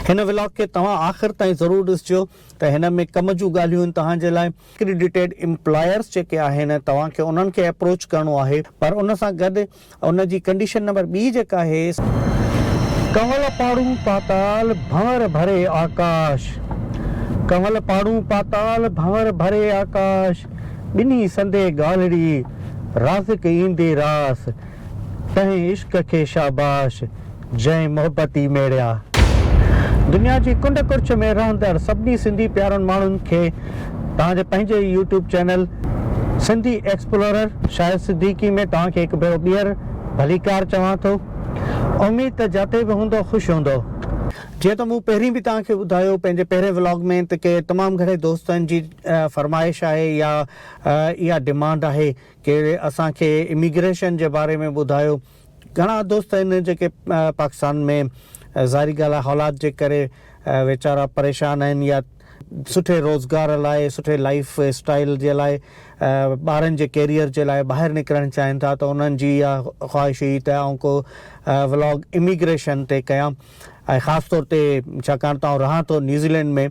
هن ولاگ کي توهان آخر تائين ضرور ڏسجو ته هن ۾ ڪم جون ڳالهيون آهن توهان جي لاء. اڪريڊيٽيڊ امپلائرز جيڪي آهن توهان کي انهن کي اپروچ ڪرڻو آهي پر ان سان گڏ ان جي ڪنڊيشن نمبر ٻي جيڪا آهي. ڪنول پاڙون پاتال ڀنور ڀري آڪاش. ڪنول پاڙون پاتال ڀنور ڀري آڪاش. ٻنهي سندي ڳالهڙي رازق ايندي راس تنهن عشق کي شاباش جنهن محبت ئي ميڙيا. دنيا جي ڪنڊ ڪڙڇ ۾ رهندڙ سڀني سنڌي پيارن ماڻهن کي توهان جي پنهنجي ئي YouTube channel Sindhi explorer Shahid Siddiqui ۾ توهان کي هڪ ڀيرو ٻيهر ڀليڪار چوان ٿو. اميد ته جتي به هوندو خوش هوندو. جيئن ته مون پهرين به توهان کي ٻڌايو پنهنجي پهرين ولاگ ۾ ته ڪي تمام گهڻي دوستن جي اها فرمائش آهي يا اها ڊمانڊ آهي ڪي اسان کي اميگريشن جي باري ۾ ٻڌايو گهڻا دوست آهن جيڪي پاڪستان ۾ ظاهري ڳالهه آهي حالات جي ڪري ويچارا پريشان آهن يا سٺي روزگار لاء سٺي لائيف اسٽائيل جي لاء ٻارن جي ڪيريئر جي لاء ٻاهر نڪرڻ چاهين ٿا ته انهن جي اها خواهش هئي ته آئون ڪو ولاگ اميگريشن تي ڪيان ۽ خاص طور تي ڇاڪاڻ ته آئون رهان ٿو نيوزيلينڊ ۾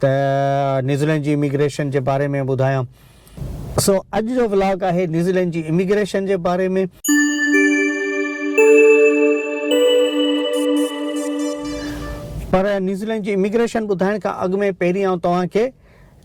ته نيوزيلينڊ جي اميگريشن جي باري ۾ ٻڌايان. سو اڄ جو ولاگ آهي نيوزيلينڊ جي اميگريشن جي باري ۾. پر نيوزيلينڊ جي اميگريشن ٻڌائڻ کان اڳ ۾ پهرين آئون توهان کي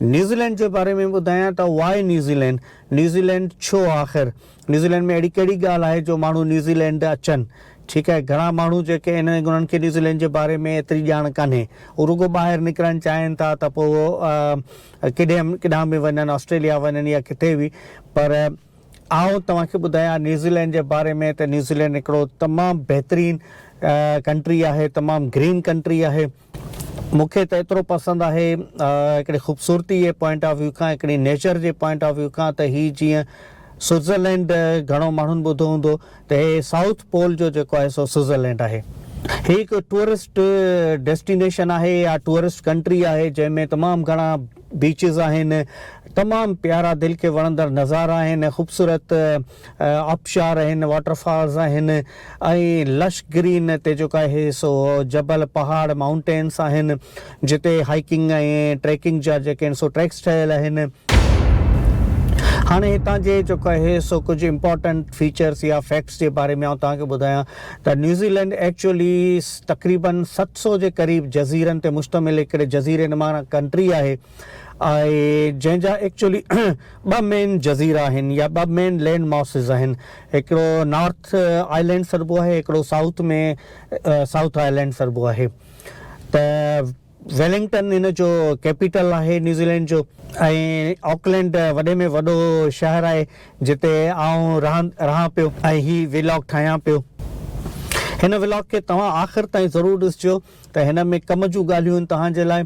نيوزيلينڊ جي باري ۾ ٻڌايان ته Why New Zealand؟ نيوزيلينڊ ڇو آخر؟ نيوزيلينڊ ۾ اهڙي ڪهڙي ڳالهه آهي جو ماڻهو نيوزيلينڊ اچن؟ ٺيڪ آهي گهڻا ماڻهو جيڪي ان انهن کي نيوزيلينڊ جي باري ۾ ايتري ڄاڻ ڪانهي اهو رڳو ٻاهر نڪرڻ چاهين ٿا ته پوء اهو ڪيڏانهن ڪيڏانهن به وڃن آسٽريليا وڃن يا ڪٿي به پر آئون توهان کي ٻڌايان نيوزيلينڊ جي باري ۾ ته نيوزيلينڊ هڪڙو تمام بهترين ڪنٽري آهي تمام گرين ڪنٽري آهي. مون کي ته ايترو پسند آهي هڪڙي خوبصورتي جي پوائنٽ آف ويو کان هڪڙي نيچر جي پوائنٽ آف ويو کان ته هي جيئن سوئٽزرلينڊ گهڻو ماڻهن ٻڌو هوندو ته هي سائوٿ پول جو جيڪو آهي سو سوئٽزرلينڊ آهي. هي هڪ ٽوئرسٽ ڊيسٽينيشن آهي يا ٽوئرسٽ ڪنٽري آهي جنهن ۾ تمام گهڻا بيچز آهن تمام پيارا دل کي وڻندڙ نظارا آهن خوبصورت آبشار آهن، واٽر فالز آهن ۽ لش گرين تي جيڪو آهي سو جبل، پهاڙ، مائونٽينس آهن جتي هائيڪنگ ۽ ٽريڪنگ جا جيڪي آهن سو ٽريڪس ٺهيل آهن. هاڻي هتان جي جيڪو آهي سو ڪجهه امپارٽنٽ فيچرس يا فيڪٽس جي باري ۾ آئون توهان کي ٻڌايان ته نيوزيلينڊ ايڪچوئلي تقريبن ست سؤ جي قريب جزيرن تي مشتمل هڪڙي جزيري نما ڪنٽري آهي. آهي جنهن جا ايڪچولي ٻه مين جزيرا آهن يا ٻه مين لينڊ ماسز آهن هڪڙو نارٿ آئلينڊ سڏبو آهي هڪڙو سائوٿ ۾ سائوٿ آئلينڊ سڏبو آهي ته ويلنگٽن ان جو ڪيپيٽل آهي نيوزيلينڊ جو ۽ آڪلينڊ وڏي ۾ وڏو شهر آهي جتي آئون رهان رهان پيو ۽ هي ويلاگ ٺاهيان پيو هن ويلاگ کي توهان آخر تائين ضرور ڏسجو ته هن ۾ ڪم جون ڳالهيون آهن توهان جي لاء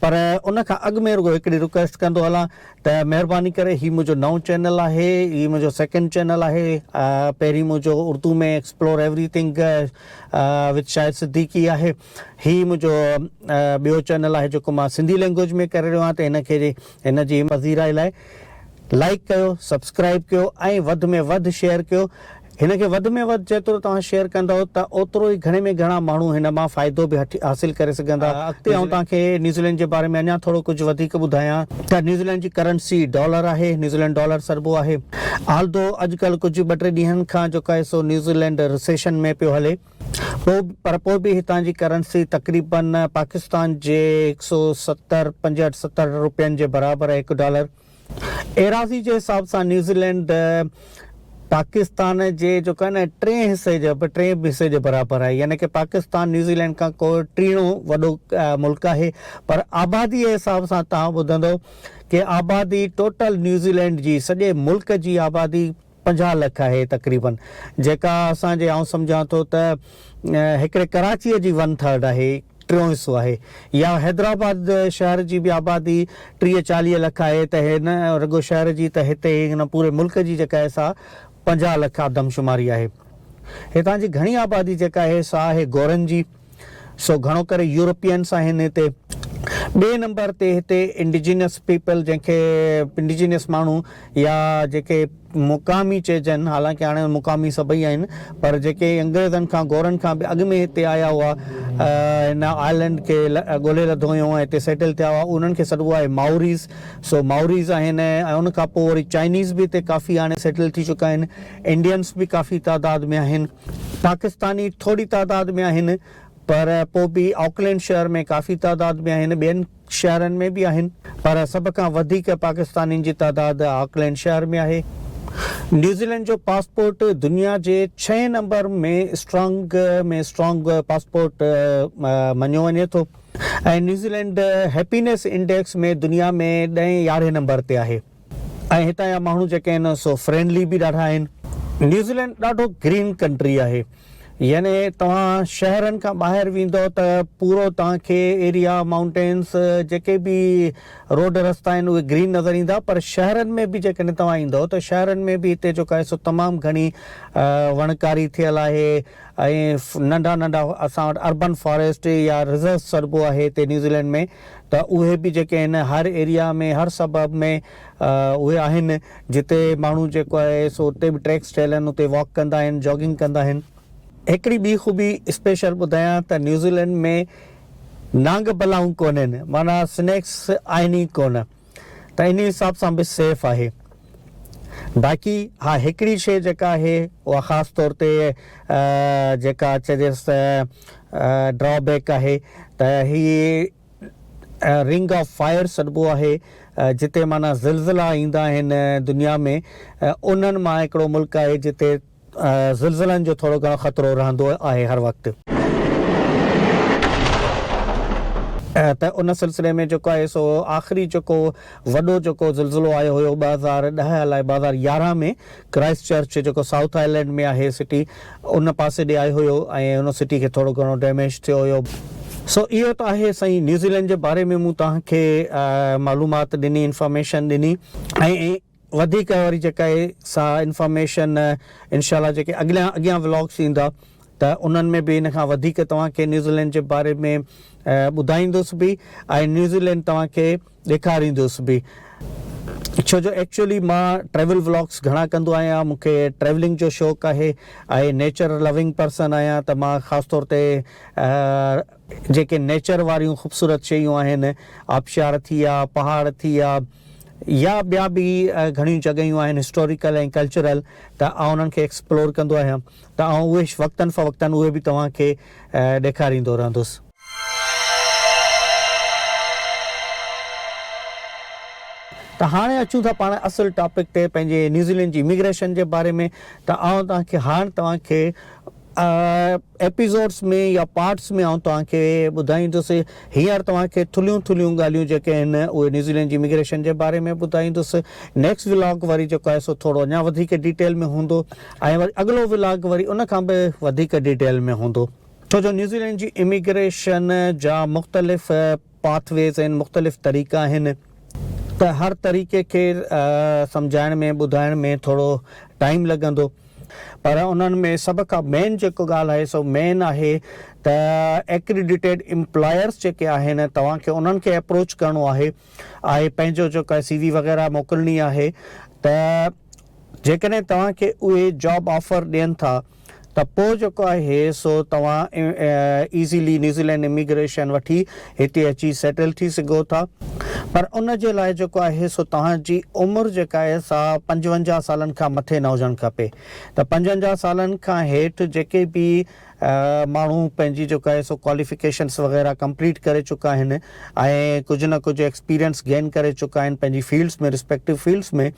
پر ان کان اڳ ۾ رڳو هڪڙي رڪويسٽ ڪندو هلان ته مهرباني ڪري هي منهنجو نئون چينل آهي هي منهنجو سيڪنڊ چينل آهي پهرين منهنجو Urdu ۾ explore everything with Shahid Siddiqui آهي هي منهنجو ٻيو چينل آهي جيڪو مان سنڌي لينگويج ۾ ڪري رهيو آهيان ته هن کي هن جي پذيرائي لاء لائيڪ ڪيو سبسڪرائيب ڪيو ۽ وڌ ۾ وڌ شيئر ڪيو هن کي وڌ ۾ وڌ جيترو توهان شيئر ڪندئو ته اوترو ئي گهڻي ۾ گهڻا ماڻهو هن مان فائدو به حاصل ڪري سگهندا اڳتي آئون توهان کي نيوزيلينڊ جي باري ۾ اڃان ٿورو ڪجهه وڌيڪ ٻڌايان ته نيوزيلينڊ جي ڪرنسي ڊالر آهي نيوزيلينڊ ڊالر سڏبو آهي آلڌو اڄ ڪلهه ڪجهه ٻه ٽي ڏينهن کان جوڪا سو نيوزيلينڊ رسيشن ۾ پيو هلي. پوء پر پوء به هتان جي ڪرنسي تقريبن پاڪستان جي هڪ سؤ ستر، پنجهٺ ستهٺ روپين جي برابر هڪ ڊالر ايراضي جي حساب سان نيوزيلينڊ پاڪستان جي جيڪو آهي نه ٽئين حصي جي ٽئين حصي جي برابر آهي يعني ڪه پاڪستان نيوزيلينڊ کان ڪو ٽيڻو وڏو ملڪ آهي پر آبادي جي حساب سان توهان ٻڌندو ڪه آبادي ٽوٽل نيوزيلينڊ جي سڄي ملڪ جي آبادي پنجاهه لک آهي تقريبن جيڪا اسان جي آئون سمجهان ٿو ته هڪڙي ڪراچيء جي ون ٿرڊ آهي ٽيون حصو آهي يا حيدرآباد شهر جي به آبادي ٽيهه چاليهه لک آهي ته هي نه رڳو شهر جي ته هتي هن پوري ملڪ جي جيڪا آهي سا پنجاهه لک آدمشماري آهي هتان جي گهڻي آبادي جيڪا آهي سا آهي گورن جي. سو گهڻو ڪري يورپينس آهن هتي. ٻئي نمبر تي هتي انڊيجينس پيپل جنهن کي انڊيجينس ماڻهو يا جيڪي مقامي چئجن حالانڪه هاڻي مقامي سڀئي آهن پر جيڪي انگريزن کان گورن کان به اڳ ۾ هتي آيا هئا هن آئلنڊ کي ڳولي لڌو هيون ۽ هتي سيٽل ٿيا هئا انهن کي سڏبو آهي مائوريز سو مائوريز آهن ۽ ان کان پوء وري چائنيز به هتي ڪافي هاڻي سيٽل ٿي چڪا آهن انڊينس به ڪافي تعداد ۾ آهن. پاڪستاني ٿوري تعداد ۾ آهن پر پوء به آڪلينڊ شهر ۾ ڪافي تعداد ۾ آهن، ٻين شهرن ۾ به آهن پر سڀ کان وڌيڪ پاڪستانين جي تعداد آڪلينڊ شهر ۾ آهي. نيوزيلينڊ جو پاسپورٽ دنيا جي ڇهين نمبر ۾ اسٽرانگ ۾ اسٽرانگ پاسپورٽ مڃيو وڃي ٿو ۽ نيوزيلينڊ هيپينيس انڊيڪس ۾ دنيا ۾ ڏهين يارهين نمبر تي آهي. ۽ هتان جا ماڻهو جيڪي آهن سو فرينڊلي به ڏاڍا آهن. نيوزيلينڊ ڏاڍو گرين ڪنٽري آهي يعني توهان شهرن کان ٻاهر ويندؤ ته پورو توهان کي ايريا مائونٽينس جيڪي به روڊ رستا آهن اهي گرين نظر ايندا پر شهرن ۾ به جيڪڏهن توهان ايندؤ ته شهرن ۾ به هتي جيڪو آهي سو تمام گهڻي وڻڪاري ٿيل آهي ۽ ننڍا ننڍا اسان وٽ اربن فاريسٽ يا رزرو سڏبو آهي هتي نيوزيلينڊ ۾ ته اهي به جيڪي آهن هر ايريا ۾ هر سبب ۾ اهي آهن جتي ماڻهو جيڪو آهي سو اتي به ٽريڪس ٺهيل آهن اتي واڪ ڪندا آهن جاگنگ ڪندا آهن. هڪڙي ٻي خوبي اسپيشل ٻڌايان ته نيوزيلينڊ ۾ نانگ بلائون ڪونهن معنيٰ سنيڪس آهن ئي ڪونه. ته انهي حساب سان به سيف آهي. باقي ها هڪڙي شيء جيڪا آهي اها خاص طور تي جيڪا چئجيس ته ڊرا بيڪ آهي ته هي رنگ آف فائر سڏبو آهي جتي معنيٰ زلزلا ايندا آهن دنيا ۾ انهن مان هڪڙو ملڪ آهي جتي زلزلن جو ٿورو گهڻو خطرو رهندو آهي هر وقت. ته ان سلسلي ۾ جيڪو آهي سو آخري جيڪو وڏو جيڪو زلزلو آيو هيو ٻه هزار ڏهه الائي ٻه هزار يارهن ۾ ڪرائسٽ چرچ جيڪو سائوٿ آئلينڊ ۾ آهي سٽي ان پاسي ڏي آيو هيو ۽ ان سٽي کي ٿورو گهڻو ڊيميج ٿيو هيو. سو اهو ته آهي سائين نيوزيلينڊ جي باري ۾ مون توهان کي معلومات ڏني انفارميشن ڏني ۽ وڌيڪ وري جيڪا اهي سا انفارميشن انشاء الله جيڪي اڳليان اڳيان ولاگس ايندا ته انهن ۾ به ان کان وڌيڪ توهان کي نيوزيلينڊ جي باري ۾ ٻڌائيندس به ۽ نيوزيلينڊ توهان کي ڏيکاريندس به ڇو جو ايڪچولي مان ٽريول ولاگس گهڻا ڪندو آهيان مون کي ٽريولنگ جو شوق آهي ۽ نيچر لوينگ پرسن آهيان ته مان خاص طور تي جيڪي نيچر واريون خوبصورت شيون آهن، آبشار ٿيا، پهاڙ ٿيا يا ٻيا به گهڻيون جڳهيون آهن هسٽوريڪل ۽ ڪلچرل ته آئون انهن کي ايڪسپلور ڪندو آهيان ته آئون اهي وقتن فوقتن اهي به توهان کي ڏيکاريندو رهندس. ته هاڻي اچون ٿا پاڻ اصل ٽاپڪ تي پنهنجي نيوزيلينڊ جي اميگريشن جي باري ۾ ته آئون توهان کي هاڻ توهان کي. ايپيسوڊس ۾ يا پارٽس ۾ آئون توهان کي ٻڌائيندس. هينئر توهان کي ٿلهيون ٿلهيون ڳالهيون جيڪي آهن اهي نيوزيلينڊ جي اميگريشن جي باري ۾ ٻڌائيندس. نيڪسٽ ولاگ وري جيڪو آهي سو ٿورو اڃا وڌيڪ ڊيٽيل ۾ هوندو ۽ وري اڳلو ولاگ وري ان کان به وڌيڪ ڊيٽيل ۾ هوندو. ڇو جو نيوزيلينڊ جي اميگريشن جا مختلف پاٿ ويز آهن، مختلف طريقا آهن ته هر طريقي کي سمجهائڻ ۾ ٻڌائڻ ۾ ٿورو ٽائيم لڳندو پر انهن ۾ سڀ کان مين جيڪو ڳالهه آهي سو مين آهي ته ايڪريڊيٽيڊ امپلائرز جيڪي آهن توهان کي انهن کي اپروچ ڪرڻو آهي آهي پنهنجو جيڪو سي وي وغيره موڪلڻي آهي ته جيڪڏهن توهان کي اهي جاب آفر ڏين ٿا ته پوء جيڪو آهي سو توهان ايزيلي نيوزيلينڊ اميگريشن وٺي هتي اچي سيٽل ٿي سگهو ٿا پر ان جي لاء جيڪو آهي سو توهان جي عمر جيڪا آهي سا پنجونجاهه سالن کان مٿي نه هجڻ کپي ته پنجونجاهه سالن کان هيٺ جيڪي به ماڻهو پنهنجي جيڪو آهي سو ڪواليفڪيشنس وغيره ڪمپليٽ ڪري چڪا آهن ۽ ڪجهه نه ڪجهه ايڪسپيرينس گين ڪري چڪا آهن پنهنجي fields ۾ respective fields ۾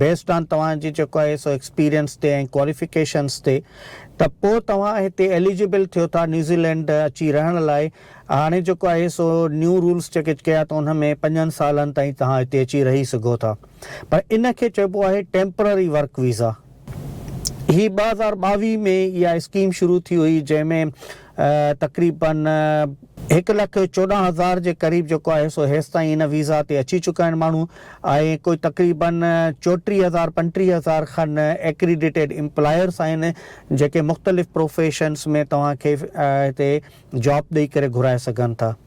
based on توهان جي جيڪو آهي سو ايڪسپيرينس تي ۽ ڪواليفڪيشنس تي ته پوء توهان هتي ايليجبل ٿيو ٿا نيوزيلينڊ اچي رهڻ لاء هاڻي جيڪو آهي سو نيو رولس جيڪي ڪيا ته ان ۾ پنجن سالن تائين توهان هتي اچي رهي سگهو ٿا پر ان کي چئبو آهي ٽيمپرري ورڪ ويزا هي ٻه هزار ٻاويهه ۾ اها اسڪيم شروع ٿي هئي جنهن ۾ تقريبن هڪ لک چوڏهن هزار جي قريب جيڪو آهي سو هيستائين ان ويزا تي اچي چڪا آهن ماڻهو ۽ ڪوئي تقريبن چوٽيهه هزار پنٽيهه هزار کن ايڪريڊيٽيڊ امپلائرس آهن جيڪي مختلف پروفيشنس ۾ توهان کي هتي جاب ڏئي ڪري گهرائي سگهن ٿا.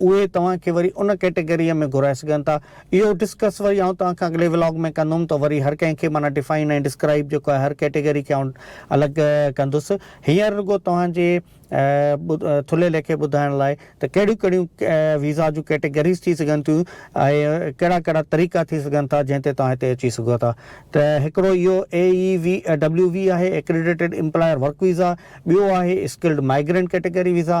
اهي توهان کي وري ان ڪيٽيگريء ۾ گهرائي سگهن ٿا. اهو ڊسڪس وري آئون توهان کان اڳلي ولاگ ۾ ڪندم ته وري هر ڪنهن کي معنيٰ ڊفائن ۽ ڊسڪرائيب جيڪو آهي هر ڪيٽيگري کي آئون الڳ ڪندس. هينئر رڳو توهان جي ٿلهي ليکي ٻڌائڻ لاء ته ڪهڙيون ڪهڙيون ويزا جون ڪيٽيگريز ٿي سگهن ٿيون ۽ ڪهڙا ڪهڙا طريقا ٿي سگهن ٿا جنهن تي توهان هتي اچي سگهو ٿا ته هڪڙو اهو AEWV آهي Accredited Employer Work Visa ٻيو آهي Skilled Migrant Category Visa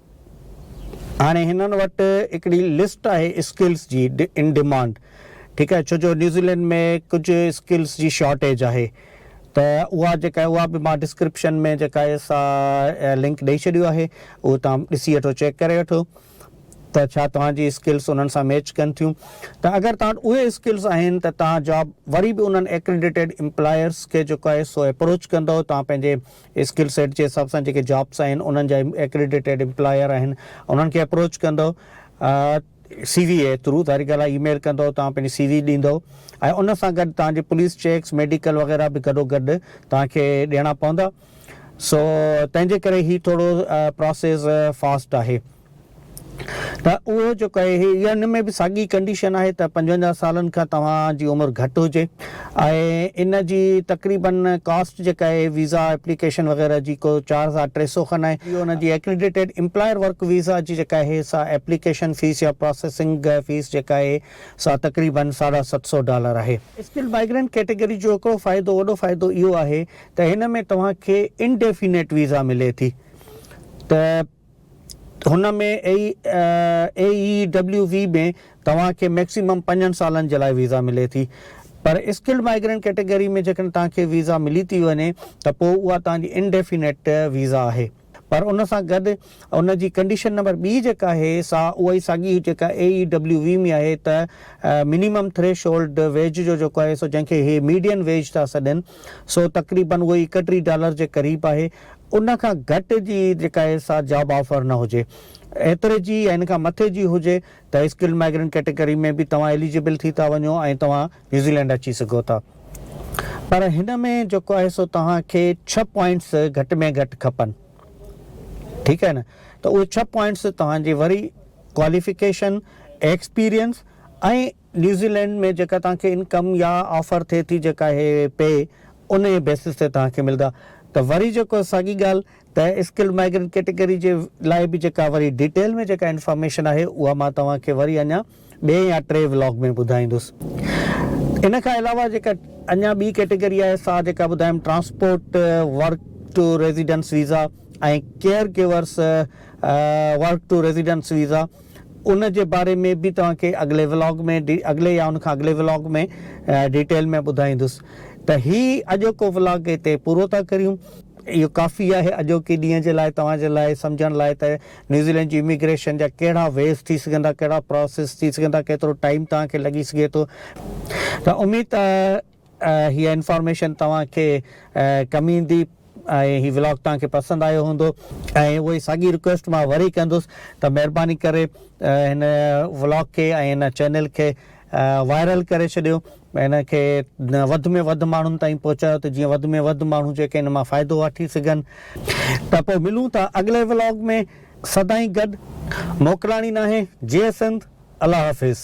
هاڻي هنن وٽ هڪڙي لسٽ آهي اسڪلس جي ان ڊمانڊ ٺيڪ آهي ڇو جو نيوزيلينڊ ۾ ڪجهه اسڪلس جي شارٽيج آهي ته اها جيڪا اها به مان ڊسڪرپشن ۾ جيڪا آهي سا لنڪ ڏئي ڇڏيو آهي اهو توهان ڏسي وٺو چيڪ ڪري وٺو ته ڇا توهان جي اسڪلس انهن سان ميچ ڪن ٿيون ته اگر توهان وٽ اهي اسڪلس آهن ته توهان جاب وري به انهن ايڪريڊيٽيڊ امپلائرس کي جيڪو آهي سو اپروچ ڪندو توهان پنهنجي اسڪل سيٽ جي حساب سان جيڪي جابس آهن انهن جا ايڪريڊيٽيڊ امپلاير آهن انهن کي اپروچ ڪندو سي وي اي ٿرو ظاهري ڳالهه آهي اي ميل ڪندو توهان پنهنجي سي وي ڏيندو ۽ ان سان گڏ توهان جي پوليس چيڪس ميڊيڪل وغيره به گڏو گڏ توهان کي ڏيڻا پوندا سو تنهن جي ڪري هي ٿورو پراسيس فاسٽ آهي. ته اهو جيڪو آهي هي ان ۾ به ساڳي ڪنڊيشن آهي ته پنجونجاهه سالن کان توهان جي عمر گهٽ هجي ۽ ان جي تقريباً ڪاسٽ جيڪا آهي هي ويزا ايپليڪيشن وغيره جي ڪو چار هزار ٽي سؤ کن آهي ان جي ايڪريڊيٽيڊ امپلائر ورڪ ويزا جي جيڪا آهي سا ايپليڪيشن فيس يا پراسيسنگ فيس جيڪا آهي سا تقريباً ساڍا ست سؤ ڊالر آهي. اسڪلڊ مائيگرينٽ ڪيٽيگري جو هڪڙو فائدو وڏو فائدو اهو آهي ته هن ۾ توهان کي انڊيفينيٽ ويزا ملي ٿي ته هن ۾ اي اي ڊبليو وي ۾ توهان کي ميڪسيمم پنجن سالن جي لاء ويزا ملي ٿي پر اسڪلڊ مائيگرينٽ ڪيٽيگري ۾ جيڪڏهن توهان کي ويزا ملي ٿي وڃي ته پوء اها توهان جي انڊيفينيٽ ويزا آهي پر ان سان گڏ ان جي ڪنڊيشن نمبر ٻي جيڪا آهي سا اهائي ساڳي هئي جيڪا اي اي ڊبليو وي ۾ آهي ته منيمم ٿريش هولڊ ويج جو جيڪو آهي سو جنهن کي هي ميڊين ويج ٿا سڏين سو تقريبن اهو ايڪٽيهه ڊالر جي قريب آهي ان کان گهٽ جي جيڪا هي سا جاب آفر نه هجي. ايتري جي يا ان کان مٿي جي هجي ته اسڪلڊ مائگرنٽ ڪيٽيگري ۾ به توهان ايليجبل ٿي ٿا وڃو ۽ توهان نيوزيلينڊ اچي سگهو ٿا. پر هن ۾ جيڪو آهي سو توهان کي ڇهه پوائنٽس گهٽ ۾ گهٽ کپن. ٺيڪ آهي نه. ته اهي ڇهه پوائنٽس توهان جي وري ڪواليفڪيشن، ايڪسپيرينس ۽ نيوزيلينڊ ۾ جيڪا توهان کي انڪم يا آفر ٿئي ٿي جيڪا اهي پي انهي بيسس تي توهان کي ملدا ته وري جيڪو ساڳي ڳالهه ته اسڪلڊ مائگرنٽ ڪيٽيگري جي لاء به جيڪا وري ڊيٽيل ۾ جيڪا انفارميشن آهي اها مان توهان کي وري اڃا ٻئي يا ٽئين ولاگ ۾ ٻڌائيندس ان کان علاوه جيڪا اڃا ٻي ڪيٽيگري آهي سا جيڪا ٻڌايم transport work to residence visa ۽ caregivers work to residence visa ان جي باري ۾ به توهان کي اڳلي ولاگ ۾ اڳلي يا ان کان اڳلي ولاگ ۾ ڊيٽيل ۾ ٻڌائيندس ته هي اڄوڪو ولاگ هتي پورو ٿا ڪريون اهو ڪافي آهي اڄوڪي ڏينهن جي لاء توهان جي لاء سمجهڻ لاء ته نيوزيلينڊ جي اميگريشن جا ڪهڙا ويز ٿي سگهن ٿا ڪهڙا پراسيس ٿي سگهن ٿا ڪيترو ٽائيم توهان کي لڳي سگهي ٿو ته اميد هيء انفارميشن توهان کي ڪم ايندي ۽ هي ولاگ توهان کي پسند آيو هوندو. ۽ اهو ئي ساڳي رڪويسٽ مان وري ڪندس ته مهرباني ڪري هن ولاگ کي ۽ هن چينل کي وائرل ڪري ڇڏيو هن کي وڌ ۾ وڌ ماڻهن تائين پهچايو ته جيئن وڌ ۾ وڌ ماڻهو جيڪي هن مان فائدو واٺي سگهن. ته پوء ملون ٿا اڳلي ولاگ ۾ سدائين گڏ موڪلاڻي ناهي جئي سنڌ الله حافظ.